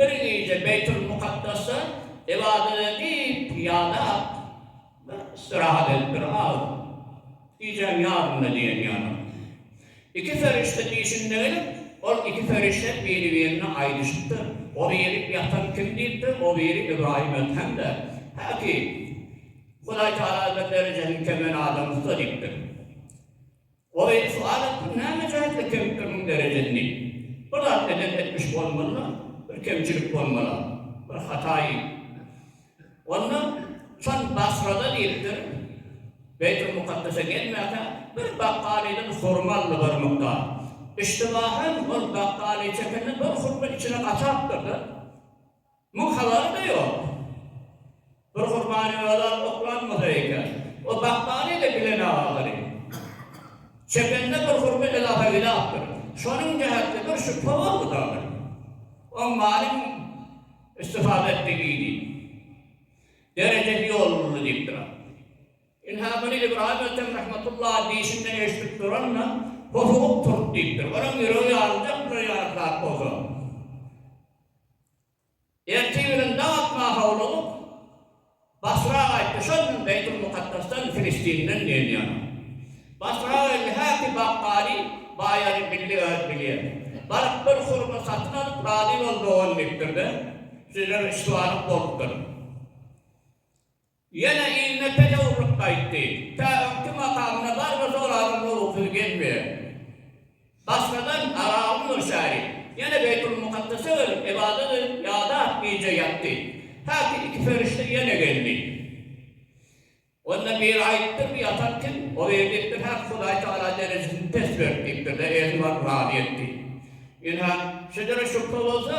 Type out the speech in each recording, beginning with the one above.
Bir gije Beýtulmukaddasda ybadat edip ýadap, bir istirahat edip bir az gijäň ýarymyna diýen ýalam, iki perişde diýşinde gelip, ol iki perişde biri-birine aýdyşypdyr, O biri ýatan kim diýipdir, o biri Ybraýym Edhem-de, häki, Hudaý Tagala bir derejesini kemel adam usta diýipdir. Goýun suwalap pul näme jaýtly kempiriň derejesini bir zat eden etmiş bolmalyla bir kemçilik bolmala bir hata onda şon basrada diýipdir beýtul mukaddese gelmäkä bir bakgalydan hurma aldy bir mukdar iştibahan ol bakgaly çekende bir hurma içine gaçapdyrda Muň halalmy ýok. Bir gurbany halal oklanmasa eken. O bakmany ede bilen agalary. Çepende bir hurma ilaha ilapdyr. Şonuň jähetli bir şübhe boldy dagly. Oň malyň istifada etdigi diýip. Derejesi ýolunly diýip duran. Ynha muny Ybraýym Ötem rahmetullaha diýşinden eşidip duran-da, hosugyp turup diýipdir. Olaň ýüregi ýaryljakdyr ýaly zat bolsa. Ertiriň dag atma howlugyp, Basra gaýtdy şol gün Beýtulmukaddasdan, Filistinden diýen ýaly. Basra geldi häki bakgali, Baýary bildi öz bilýän. Baryp bir hurma satyn alyp, Razy bol dogan diýipdir-de, Süzem üç balyk bolupdyr. Ýene ilme tejewürlik gaýtdy. Tä öňki makamyna barma soragyň gowusy gelmeýär. Başgadan Arabyň Nurşäri ýene Beýtulmukaddese gelip ybadat edip ýadap gije ýatdy. Häki iki perişde ýene geldi. Onda biri aýdypdyr bu ýatan kim? O biri diýipdir häk Hudaý Tagala derejesini pes berip diýipdir-de özüni baryp razy etdi. Ynha, şejere şübhe bolsa,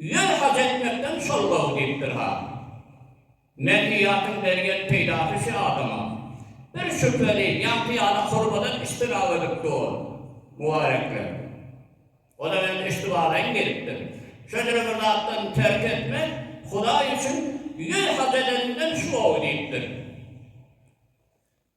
Ýer haç etmekden şol gowy diýipdir ha. Medeniýetiň bergen peýdasy şu adama, bir şübheli, ýagty ýaly hormadan iştirap edip dur. Mubarekler. Olar indi üstübalaýyn gelipdir. Şöjüre bir zatdan terk etme, Hudaý üçin ýer haç edeniňden şu gowy diýipdir.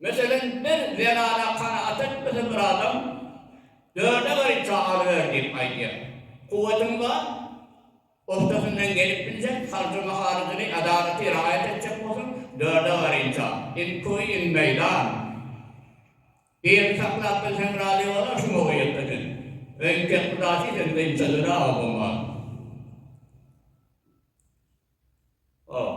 Meselem, bir zenana kanagat etmese bir adam, Dörde garypja alyber diýip aýdýar. Kuwwatyň bar, ustasyndan gelip biljek, harjy-maharajyny adalaty raýat etjek bolsaň, dörde garypja, in köý, in meýdan. Birini saklap bilseň razy bolar, şuňa uýat eden. Öýüň tek gudasy sen dynça döne oba maly. Hop.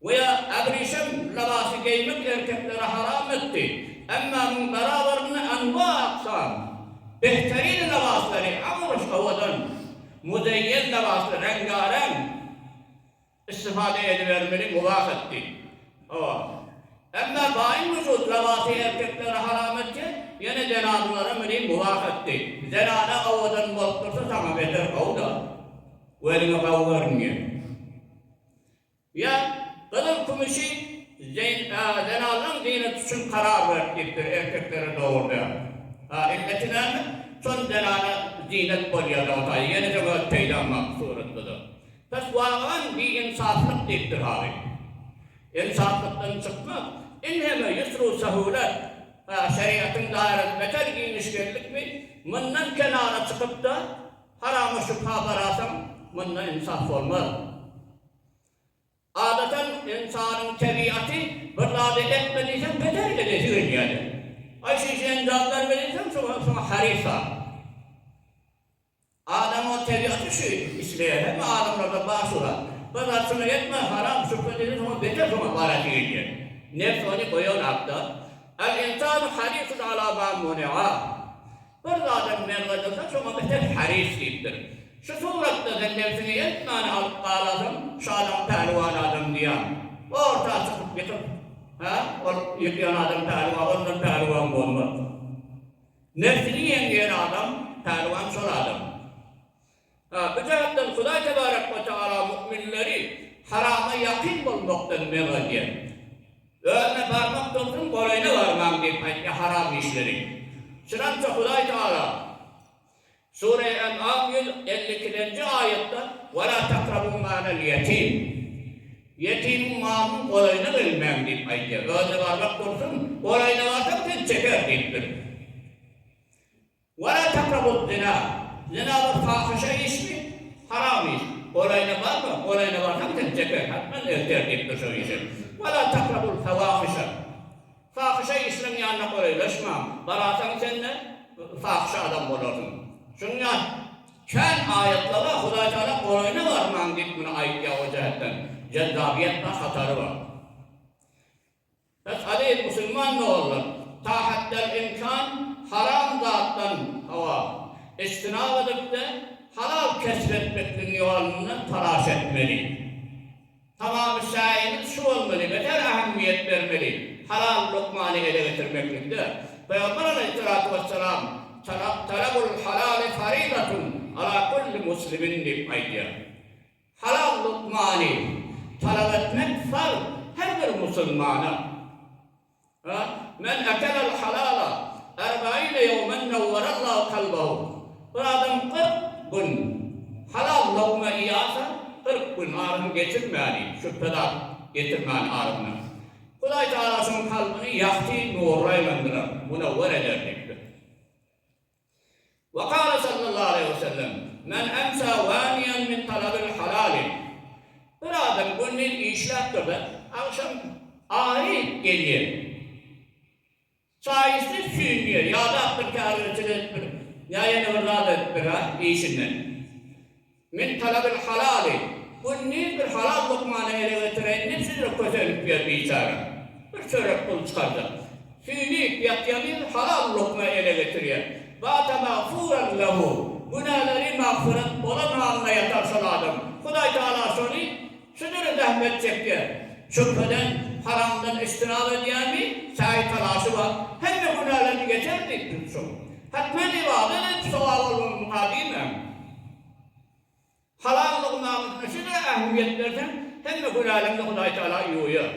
We abrişem lybasy geýmek erkeklere haram etdi. Emma muň barabarynda anwa aksam, behterine lybaslary, amruş, owadan, muzeýen lybasly, reňgareň, istifada edibermeli mubah etdi. Hawa. Emma baýyn wujud lybasy erkeklere haram etse, ýene zenadylara meni mubah etdi. Zenana owadan bolup dursa saňa beter gowy-da. Gözüňe gowy görünýär. Ýa, gyzyl-kümüşi zen-a-zenanlaryň zynaty üçin karar berip gitdir, erkeklere dogry däl. A, illeti näme? Şol zenana zynat bolýa-da, ota, ýene öň öz peýdaň mak suratlydyr. Pes wagan bi-insaflyk diýipdir haly. Insaplykdan çykmak, inheme ýusru-sähuwlet. A, şerigatyň daýrasy beter giňişgelilikmi? Mundan kenara çykyp-da. Harama şübha garasaň, munda ynsaf bolmaz. Adatan, ynsanyň tebigaty, bir zady etme diýseň, beter edesi gelýärdi. Aý, şunça enjam berme diýseň, şoňa harysa. Adamyň tebigaty şu, isleýär. Hemme adamlarda bar şu zat. Bir zat şuna etme, haram, şübhe diýseň, şoňa beter şoňa barasy gelýär. Nebs ony goýan hakda. Al-ynsanu harisun ala ma munea. Bir zada gümen gaýtarsa, şoňa beter haris diýipdir. Şu suratda-da nebsiňi elmydana alyp galasaň, şu adam pälwan adam diýýän. Orta çykyp ýykyp, hä, ol ýykýan adam pälwan, ondan pälwan bolmaz. Nebsini ýeňýän adam, pälwan şol adam. Bu jagtdan Hudaý tebarek we tagala müminleri harama ýakyn bolmakdan men edýär. Özüne barmak dursun, golaýyna barmaň diýip aýtýar haram işleri. Şunamça Hudaý tagala Sure En'am ýüz elli ikilenji aýatda Wela takrabu malal ýetim, Ýetimiň malynyň golaýyna gelmäň diýip aýdýar. Özüne barmak dursun, golaýyna barsaň sen çeker diýipdir. Wa la takrabuz zina, Zina bir fahyşa işmi, haram iş. Golaýyna barma, golaýyna barsaň seni jeper, hatman erter diýip dur şo işe. Wa la takrabul fawahyşa, Fahyşa işleriň ýanyna golaýlaşmaň, bararsaň sen-de fahyşa adam bolarsyň. Şunuň ýaly kän aýatlara Hudaý Tagala golaýyna barmaň diýip muny aýtýar o jähetden, jezzabyýet bar, hatary bar. Biz aziz musulman doganlar tahattel imkan haram zatdan hawa, ijtinap edip-de halal kesp etmekligiň ýolundan talaş etmeli. Tamamyşaýymyz şu bolmaly, beter ähmiýet bermeli halal lukmany ele getirmeklikde. Pygamber alaýhyssalatu wessalam, Talabul halali faridatun ala kulli muslimin diýip aýdýar. Halal lukmany talap etmek farz her bir musulmana. A. Men akelel halala erbaine ýowmen newwerallahu kalbahu, Bir adam kyrk gün halal lukma iýasa, kyrk gün arasyny geçirmäni, şübhe zat getirmäni arasyna, Hudaý Tagala şonuň kalbyny ýagty nurla aýlandyrar, munewwer eder diýipdir. Ve kâle sallallahu aleyhi ve sellem, Men emsâ wâniyen min talabil halâli, Bir adam gündiz işläpdir-de, agşam aryp gelýär. Çaýysyz süýnýär, ýadapdyr, kärdeçilik edipdir, ýa ýene bir zat edipdir-ä işinden. Men talabyl halaly, gündiz bir halal lukmany ele getireýin diýip sizre kösenip ýör biçara. Bir çörek pul çykarjak. Süýnüp ýatýanyz halal lukma ele getirýär. Bata magfuran lehu, günälari magfyrat bolan halynda ýatar şol adam. Hudaý Tagala şony. Şu dürli zähmet çekýär. Çöpeden, haramdan iştinap edýärmi? Säý-talaşy bar. Hemme günälerini geçer diýip tutjak. Hatman ybadat edip sogap almagyň mukaddim hem. Halal lugmanysyna şeýle ähmiýet berseň, hemme günäleňni Hudaý Tagala ýuwýar.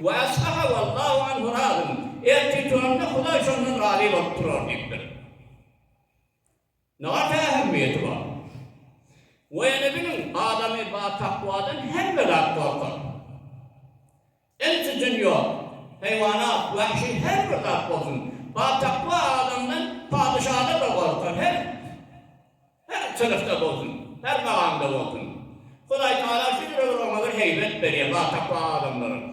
Wa asbaha wallahu anhu razyn. Ertir turanda Hudaý şondan razy bolup turar diýipdir. Nat ähmiýeti bar. We ýene biliň, adamy batakwadan hemme zat gorkar. Insi-jyn ýok, heýwanat, wahşy her bir zat bolsun, batakwa adamdan, padyşadan-da gorkar, her, her synpda bolsun, her magamda bolsun. Hudaýtagala şu ýüregiň oňa bir heýbet berýär, batakwa adamlara.